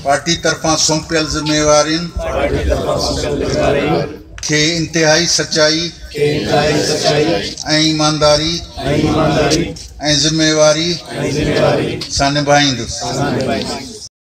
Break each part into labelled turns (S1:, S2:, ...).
S1: Party طرفان سونپيل ذميوارين کي انتهائي سچائي ۽ ايمانداري ۽ ذميواري سان نڀائيندس.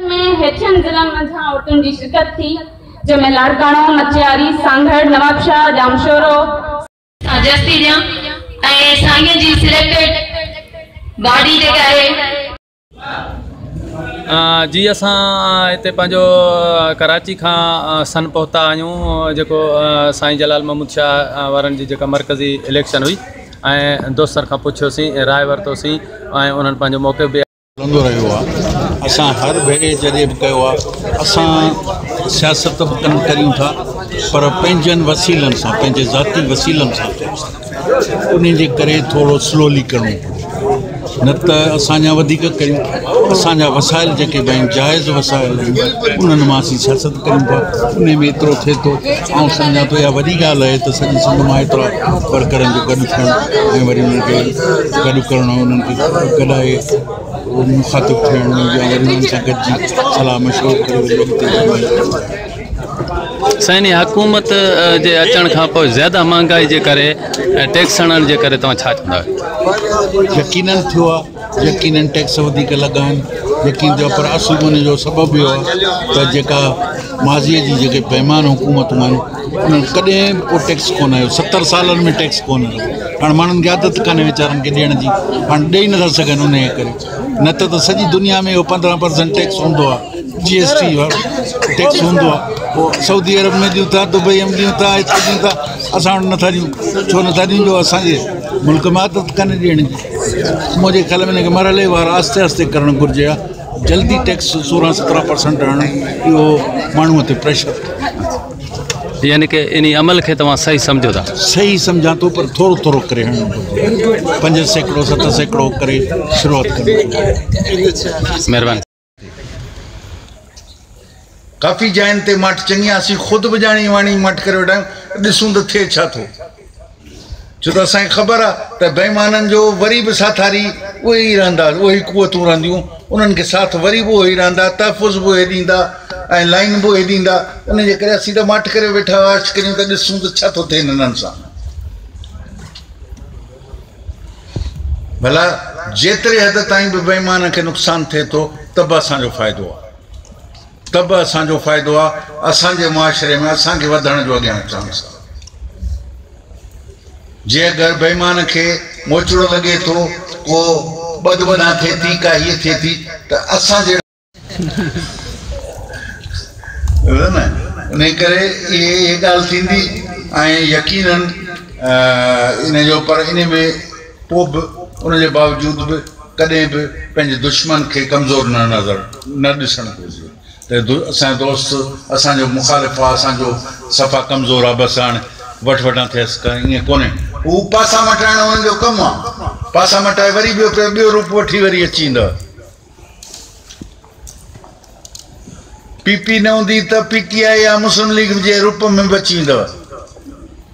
S2: ۾ هيٺين ضلعن منجهان عورتن جي شرڪت ٿي جنهن ۾ لاڙڪاڻو، مچياري، سانگهڙ، نوابشاهه،
S3: ڄامشورو، سان جستي ڏيان ۽ سائين جي سليڪٽيڊ باڊي جيڪا آهي. جي اسان هتي پنهنجو ڪراچي کان سن پهتا آهيون جيڪو سائين جلال محمود شاهه وارن جي جيڪا مرڪزي اليڪشن هئي ۽ دوستن کان پڇيوسين راء ورتوسين ۽ انهن پنهنجو موقف به هلندو رهيو
S1: آهي اسان هر ڀيري جڏهن به ڪيو آهي اسان سياست به ڪن ڪريون ٿا پر پنهنجن وسيلن سان پنهنجي ذاتي وسيلن سان انهن جي ڪري ٿورو سلولي ڪرڻو پوندو نه ته اسان جا وڌيڪ ڪريون اسان جا وسائل جيڪي به آهن جائز وسائل آهن انهن مان اسين سياست ڪريون ٿا انهي ۾ ايترو ٿئي ٿو آئون سمجهان ٿو اها وڏي ڳالهه آهي ته سڄي سنڌ مان ايترا ورڪرن جو گڏ ٿيڻ ۽ وري انهن کي گڏ ڪرڻ انهن کي گڏائي مخاطب ٿيڻ يا وري انهن سان گڏجي صلاح مشورو ڪري وري اڳتي وڌڻ
S3: سائين هي حڪومت جي اچڻ کان پوء زياده مهانگائي جي ڪري ۽ ٽيڪس هڻڻ جي ڪري توهان ڇا چوندا آهيو؟ يقيناً
S1: ٿيو آهي يقيناً ٽيڪس وڌيڪ لڳا آهن يقين ٿيو آهي پر اصل ان جو سبب اهو آهي ته جيڪا ماضيء جي جيڪي بيمان حڪومتون آهن ڪڏهن به ڪو ٽيڪس ڪونه آيو ستر سالن ۾ ٽيڪس ڪونه آيو هاڻ ماڻهن کي عادت ڪانهي ويچارن کي ڏيڻ جي هاڻ ڏيئي نٿا سگهن ان جي ڪري نه ته ته سڄي دنيا ۾ اهو پندرهن پرسنٽ ٽيڪس هوندو آهي جي ايس ٽي وارو ٽيڪس هوندو آهي پوء سعودي عرب ۾ ڏيون ٿا دبئي ۾ ڏيون ٿا هتي ڏيون ٿا اسان وٽ نٿا ڏيون ڇو نٿا ڏيون جو اسانجي ملڪ ۾ عادت ڪانهي ڏيڻ جي منهنجي خيال ۾ هن کي مرحلي وار آهستي آهستي ڪرڻ گهرجي جلدي ٽيڪس سورهن سترهن پرسنٽ آڻڻ اهو ماڻهوء تي پريشر ٿي.
S3: يعني ڪه انهي عمل کي توهان صحيح سمجهو ٿا؟ صحيح سمجهان ٿو پر
S1: ٿورو ٿورو ڪري هڻڻ گهرجي. پنج سيڪڙو ست سيڪڙو ڪري شروعات ڪرڻ گهرجي. مهرباني. ڪافي جاين تي ماٺ چڱي آ، اسين خود به ڄاڻي واڻي ماٺ ڪري ويٺا آهيون ته ڏسون ته ٿئي ڇا ٿو، ڇو ته اسان کي خبر آ ته بيمانن جو وري به ساٿاري اهي ئي رهندا، اهي ئي قوتون رهنديون، انهن کي ساٿ وري به اهي ئي رهندا، تحفظ به اهي ڏيندا ۽ لائين به اهي ڏيندا، انهن جي ڪري اسين ته ماٺ ڪري ويٺا هئاسي، ڪريون ته ڏسون ته ڇا ٿو ٿئي هنن سان. ڀلا جيتري حد تائين به بيمانن کي نقصان ٿئي ٿو ته به اسان جو فائدو آ. ته به اسان جو فائدو آ، اسان جي معاشري ۾ اسان کي وڌڻ جو اڳيان چانس آ. جي اگر بيمان کي موچڙو لڳي ٿو، ڪو ٻڌ ٻڌان ٿئي ٿي، ڪا هيء ٿئي ٿي ته اسان جهڙا. انهيء ڪري اهي اهي ڳالهه ٿيندي ۽ يقينن ان جو پر انهيء ۾. پوء به ان جي باوجود به ڪڏهن به پنهنجي دشمن کي ڪمزور نه نظر نه ڏسڻ گهرجي ته اسان جو دوست اسان جو مخالف آ اسان جو صفا ڪمزور آ بس هاڻي وٺ وٺان ٿئيس ڪانه ائين ڪونهي هو پاسا مٽائڻ انهن جو ڪم آ پاسا مٽائي وري ٻيو پي ٻيو روپ وٺي وري اچي ايندا پي پي نه هوندي ته پي ٽي آء يا مسلم ليگ جي روپ ۾ به اچي ويندو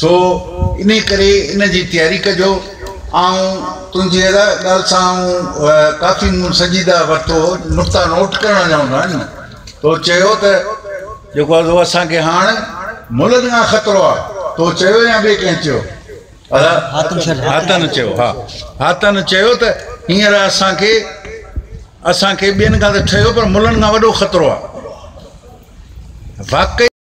S1: سو انهيء ڪري ان جي تياري ڪجو. آئون تنهنجي هر ڳالهه سان آئون ڪافي مون سنجيده ورتو هو. نقطا نوٽ ڪرڻ جا هوندا آهن. تو چيو ته جيڪو آهي سو اسان کي هاڻ ملن کان خطرو آهي. تو چيو يا ٻئي ڪنهن چيو؟ هاتن چيو، ها. هاتن چيو ته هينئر اسان کي، اسان کي ٻين کان ته ٺهيو پر ملن کان وڏو خطرو آهي. واقعي!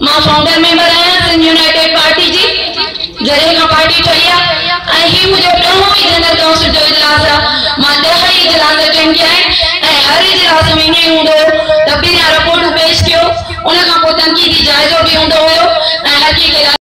S2: مان فائونڊر ميمبر آهيان سنڌ يونائيٽيڊ پارٽي جي جڏهن کان پارٽي ٺهي آهي ۽ هي منهنجو ڏهون ئي جنرل ڪائونسل جو اجلاس آهي مان ڏهه ئي اجلاس اٽينڊ ڪيا آهن ۽ هر اجلاس ۾ ائين هوندو هو ته پهريان رپورٽون پيش ڪيو ان کان پوء تنقيدي جائزو به هوندو هيو ۽ هر ڪنهن کي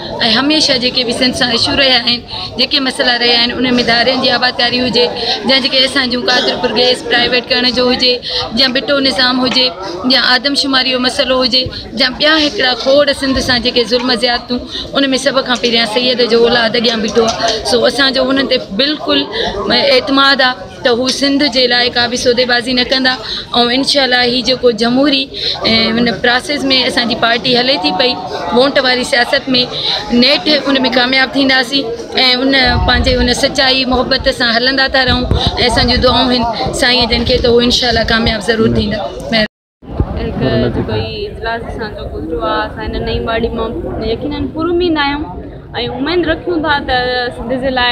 S4: ۽ هميشه جيڪي به سنڌ سان اشو رهيا آهن، جيڪي مسئلا رهيا آهن، انهن ۾ ڌارين جي آبادڪاري هجي، جيئن جيڪي اسان جون قادرپور گئس پرائيويٽ ڪرڻ جو هجي، جيئن بٽو نظام هجي، جيئن آدمشماري جو مسئلو هجي، جيئن ٻيا هڪڙا کوڙ سنڌ سان جيڪي ظلم زيادتون، ان ۾ سڀ کان پهريان سيد جو اولاد اڳيان بيٺو آهي، سو اسان جو انهن تي بلڪل اعتماد آهي. ته هو سنڌ جي لاء ڪا به سوديبازي نه ڪندا ۽ انشاء الله هي جيڪو جمهوري ان پراسيس ۾ اسان جي پارٽي هلي ٿي پئي وونٽ واري سياست ۾ نيٺ ان ۾ ڪامياب ٿينداسين ۽ ان پنهنجي ان سچائي محبت سان هلندا ٿا رهون ۽ اسان جون دعائون آهن سائين جن کي ته هو انشاء الله ڪامياب ضرور ٿيندا
S2: جو ڪوئي اجلاس اسان جو گذريو آهي اسان هن نئين واڙي مان يقيناً پراميد آهيون ۽ اميد رکيون ٿا ته سنڌ جي لاء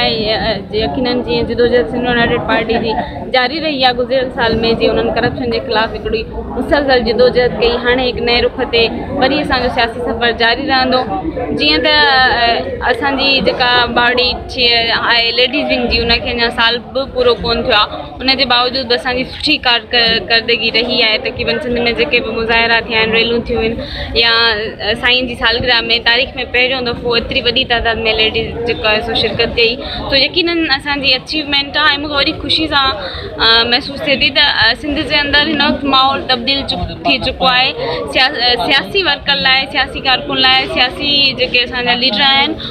S2: يقيناً جيئن جدوجهد سنڌ يونائيٽيڊ پارٽي جي جاري رهي آهي گذريل سال ۾ جيئن انهن ڪرپشن جي خلاف هڪڙي مسلسل جدوجهد ڪئي هاڻي هڪ نئين رخ تي وري اسان جو سياسي سفر جاري رهندو جيئن ته اسان جي جيڪا باڙي آهي ليڊيز ونگ جي ان کي اڃا سال به پورو ڪونه ٿيو آهي ان جي باوجود به اسان جي سٺي ڪارڪردگي رهي آهي تقريبن سنڌ ۾ جيڪي به مظاهرا ٿيا آهن ريلون ٿيون آهن يا سائين جي سالگرهه ۾ تاريخ ۾ پهريون دفعو ايتري وڏي تعداد ۾ ليڊيز جيڪو آهي سو شرڪت ڪئي تو يقيناً اسان جي اچيومينٽ آهي مون کي وڏي خوشي سان محسوس ٿئي ٿي ته سنڌ جي اندر هن وقت ماحول تبديل ٿي چڪو آهي سياسي ورڪر لاء سياسي ڪارڪن لاء سياسي جيڪي اسان جا ليڊر آهن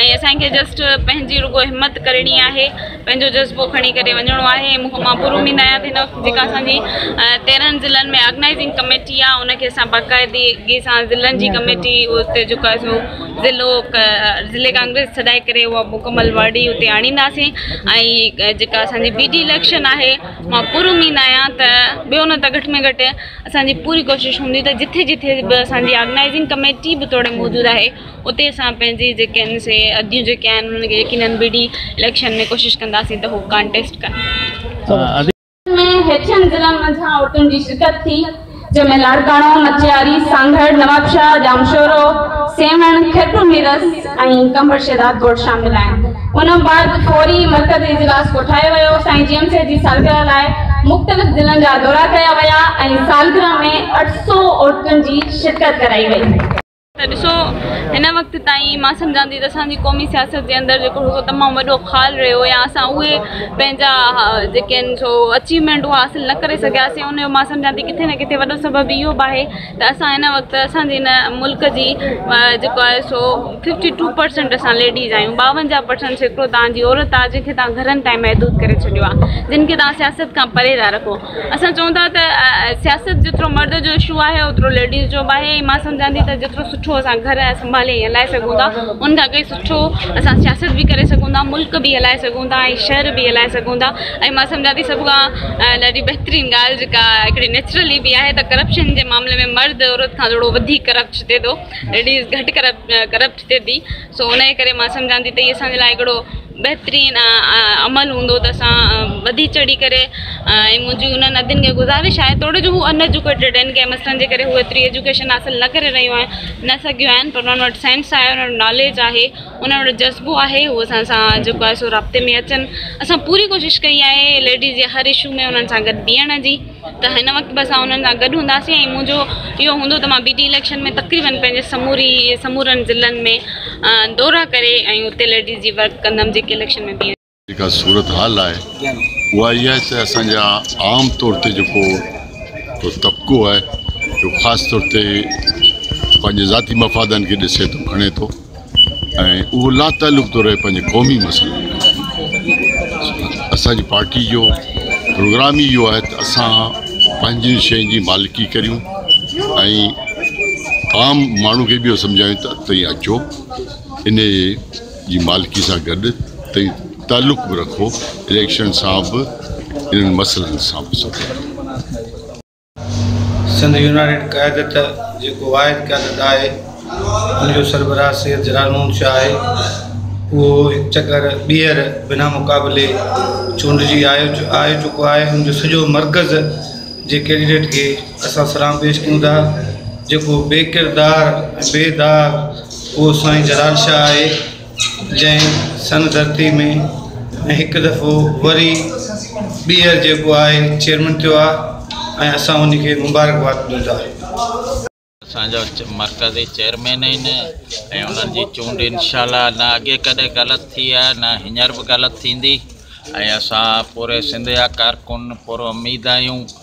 S2: ۽ اسان کي جسٽ پنهنجي رڳو همت ڪرڻي آهي پنهنجو جذبو کڻي ڪري وڃڻو آهي ۽ مون مان پورو اميد آهيان ته هن وقت جيڪا اسان جي تيرهن ضلعن ۾ آرگنائزنگ ڪميٽي آهي ان کي اسان باقاعدگي سان ضلعن جي ڪميٽي اتي جيڪا سو ضلعو ضلعي ڪانگريس سڏائي ڪري اها مڪمل واڙي اتي آڻينداسين ۽ جيڪا اسانجي بي ڊي اليڪشن آهي مان پورو اميد آهيان ته ٻيو نه ته گهٽ ۾ گهٽ اسانجي پوري ڪوشش هوندي ته جٿي جٿي به اسانجي آرگنائزنگ ڪميٽي به توڙي موجود آهي اتي اسان پنهنجي جيڪي آهن سي اديون جيڪي آهن انهن کي يقينن بي ڊي اليڪشن ۾ ڪوشش ڪنداسين ته هو ڪانٽيسٽ ڪن. ۾ هيٺين
S5: ضلعن منجهان عورتن جي شرڪت ٿي جنهن ۾ لاڙڪاڻو، مچياري، سانگهڙ، نوابشاهه، ڄامشورو، سيوهڻ، خيرپور ميرس ۽ قمبر شهداد ڳوٺ شامل آهن ان بعد فوري مرڪزي اجلاس ڪوٺايو ويو سائين جيئم سيد جي سالگرهه لاء مختلف ضلعن جا دورا ڪيا ويا ۽ سالگرهه ۾ اٺ سؤ عورتن جي شرڪت ڪرائي وئي. ته ڏسو
S2: هن وقت تائين مان سمجهان ٿي ته اسان جي قومي سياست جي اندر جيڪو هڪ تمام وڏو خال رهيو يا اسان اهي پنهنجا جيڪي آهن سو اچيومينٽ اهو حاصل نه ڪري سگهياسين ان جو مان سمجهان ٿي ڪٿي نه ڪٿي وڏو سبب اهو به آهي ته اسان هن وقت اسان جي هن ملڪ جي جيڪو آهي سو ففٽي ٽو پرسنٽ اسان ليڊيز آهيون ٻاونجاهه پرسنٽ سيڪڙو تان جي عورت آهي جنهن کي تان گهرن تائين محدود ڪري ڇڏيو آهي جن کي تان سياست کان پري ٿا رکو اسان چئون ٿا ته سياست جيترو مرد جو اشو آهي اوترو ليڊيز جو به آهي ۽ مان سمجهان ٿي ته جيترو سٺو اسان گهر سنڀالي ۽ هلائي سگهون ٿا ان کان ڪئي سٺو اسان سياست به ڪري سگهون ٿا ملڪ به هلائي سگهون ٿا ۽ شهر به هلائي سگهون ٿا ۽ مان سمجهان ٿي سڀ کان ڏاڍي بهترين ڳالهه جيڪا هڪڙي نيچرلي به آهي ته ڪرپشن جي معاملي ۾ مرد عورت کان ٿورو وڌيڪ ڪرپٽ ٿئي ٿو ليڊيز گهٽ ڪرپٽ ٿئي ٿي سو انهيء ڪري مان سمجهان ٿي ته هي اسان جي لاء هڪڙو بهترين عمل هوندو ته اسان وڌي چڙهي ڪري ۽ منهنجي انهن ادين کي گذارش آهي توڙي جو هو ان ايجوڪيٽيڊ آهن ڪنهن مسئلن جي ڪري هو ايتري ايجوڪيشن حاصل نه ڪري رهيون آهن نه سگهيون آهن پر انهن وٽ سينس آهي انهن وٽ ناليج آهي انهن وٽ جذبو آهي هو اسان سان جيڪو آهي سو رابطي ۾ اچن اسان پوري ڪوشش ڪئي آهي ليڊيز جي هر اشو ۾ انهن سان گڏ بيهڻ جي ته هن وقت به اسان انهن سان گڏ هونداسين ۽ منهنجو اهو هوندو ته مان بي ڊي اليڪشن ۾ تقريبن پنهنجي سموري سمورن ضلعن ۾ دورا ڪري ۽ اتي ليڊيز جي ورڪ ڪندم جيڪي اليڪشن ۾ بيهن. جيڪا صورتحال
S6: آهي اها اها آهي ته اسان جا عام طور تي جيڪو طبقو آهي جو خاص طور تي پنهنجي ذاتي مفادن کي ڏسي ٿو کڻي ٿو ۽ اهو لاتعلق ٿو رهي پنهنجي قومي مسئلن کان اسان جي پارٽي جو پروگرام ئي اهو آهي ته اسان پنهنجي شين جي مالڪي ڪريون ۽ عام ماڻهو کي به اهو سمجهايون ته تئين اچو ان جي مالڪي سان گڏ تئين تعلق به رکو اليڪشن سان به انهن مسئلن سان به سڀ
S7: سنڌ يونائيٽيڊ قيادت جيڪو واحد قيادت آهي ان جو سربراهه سيد جلال محمد شاهه آهي اهو هڪ چڪر ٻيهر بنا مقابلي چونڊجي آيو چڪو آهي ان جو سڄو مرڪز جي ڪينڊيڊيٽ کي اسان سلام پيش ڪيون ٿا جيڪو بي ڪردار ۽ بي داغ اهو سائين جلال شاهه آهي جنهن سن ڌرتي ۾ هڪ دفعو وري ٻيهر جيڪو آهي چيئرمين ٿيو آهي ۽ اسان ان کي مبارڪباد ڏيون ٿا. اسان
S8: جو مرڪزي چيئرمين آهن ۽ انهن جي چونڊ انشاء الله نه اڳي ڪڏهن غلط ٿي آهي نه هينئر به غلط ٿيندي ۽ اسان پوري سنڌ جا ڪارڪن پراميد آهيون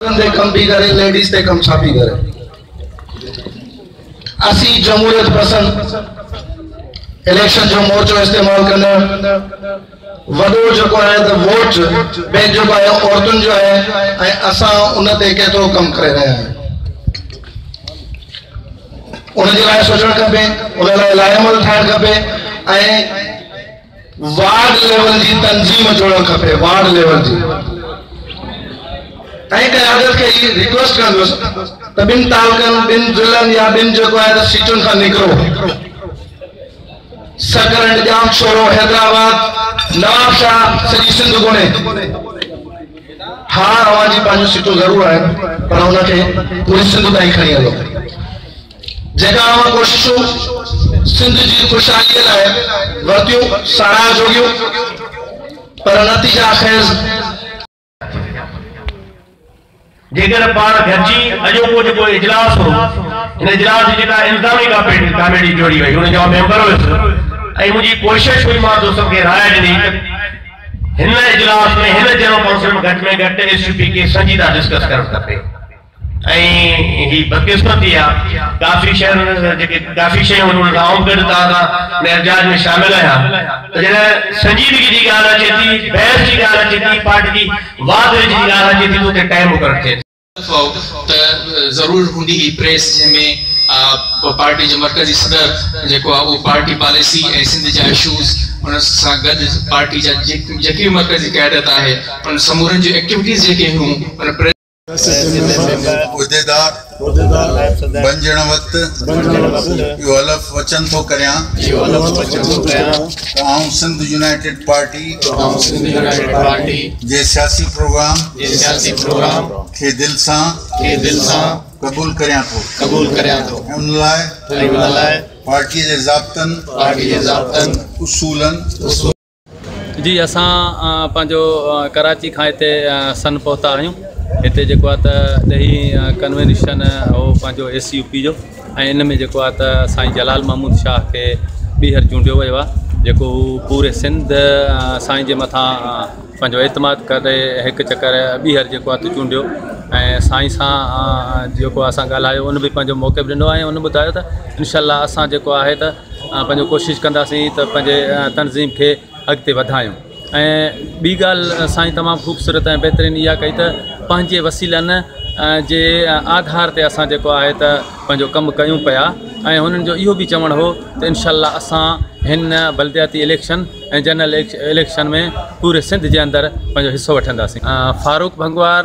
S9: تي ڪم پي ڪري ليڊيز تي ڪم ڇا پي ڪري اسين جمهوريت پسند اليڪشن جو مورچو استعمال ڪندڙ وڏو جيڪو آهي ته ووٽ بينڪ جيڪو آهي عورتن جو آهي ۽ اسان ان تي ڪيترو ڪم ڪري رهيا آهيون ان جي لاء سوچڻ کپي ان لاء لائحه عمل ٺاهڻ کپي ۽ وارڊ ليول جي تنظيم جوڙڻ کپي وارڊ ليول جي ۽ قيادت کي اهي ريڪويسٽ ڪندس ته ٻن تعلقن ٻن ضلعن يا ٻن جيڪو آهي ته سيٽن کان نڪرو سڪرنڊ ڄام شورو حيدرآباد نواب شاهه سڄي سنڌ گهمي ها اوهان جي پنهنجون سيٽون ضرور آهن پر ان کي پوري سنڌ تائين کڻي هلو جيڪا اوهان ڪوششون سنڌ جي خوشحاليء لاء ورتيون، ساراهه جوڳيون، پر نتيجا خيز.
S10: جيڪڏهن پاڻ گڏجي اڄوڪو جيڪو اجلاس هو، ان اجلاس جي جيڪا الزامي ڪاميٽي جوڙي وئي، ان جو آء ميمبر هيس ۽ منهنجي ڪوشش هئي، مان دوستن کي راء ڏني ته هن اجلاس ۾ هن جنرل ڪائونسل ۾ گهٽ ۾ گهٽ ايس يو پي کي سنجيده ڊسڪس ڪرڻ کپي. ۽ هي بدقسمتي آ ڪافي شهر جيڪي ڪافي شيون هن رائو گڏ تان تان ۾ احتجاج ۾ شامل آهيان ته جڏهن سنجيدگي جي ڳالهه اچي ٿي بحث جي ڳالهه اچي ٿي پارٽي جي واڌ ويجهه جي ڳالهه اچي ٿي ته اتي ٽائيم مقرر ٿئي ٿي. افواهه ته
S11: ضرور هوندي هي پريس جنهن ۾ پارٽي جو مرڪزي صدر جيڪو آ اهو پارٽي پاليسي ۽ سنڌ جا اشوز ان سان گڏ پارٽي جا جيڪي به مرڪزي قيادت آهي انهن سمورن جون ايڪٽيوٽيز جيڪي هيون ان پريس سينيٽ جي ميمبر،
S1: عهديدار، بنجڻ وقت اهو حلف وچن ٿو ڪريان ته آئون سنڌ يونائيٽيڊ پارٽي جي سياسي پروگرام کي دل سان قبول ڪريان ٿو ۽ ان لاء پارٽيء جي ضابطن، اصولن.
S3: جي اسان پنهنجو ڪراچي کان هتي سن پهتا آهيون هتي جيڪو آهي ته ڏهي ڪنوينشن هو پنهنجو اي سي يو پي جو ۽ ان ۾ جيڪو آهي ته سائين جلال محمود شاهه کي ٻيهر چونڊيو ويو آهي جيڪو هو پوري سنڌ سائين جي مٿان پنهنجو اعتماد ڪري هڪ چڪر ٻيهر جيڪو آهي ته چونڊيو ۽ سائين سان جيڪو اسان ڳالهايو ان به پنهنجو موقف ڏنو آهي ان ٻڌايو ته انشاء الله اسان جيڪو آهي ته پنهنجو ڪوشش ڪنداسين ته پنهنجي تنظيم کي اڳتي وڌايون ۽ ٻي ڳالهه سائين تمام خوبصورت ۽ بهترين اها ڪئي ته پنهنجي وسيلن جي آڌار تي اسان جيڪو آهي ته پنهنجو ڪم ڪيون پيا ۽ هنن جو اهو به چوڻ هو ته انشاء الله اسان هن بلدياتي اليڪشن ۽ جنرل اليڪشن ۾ پوري سنڌ جي اندر پنهنجو حصو وٺنداسين فاروق ڀنگوار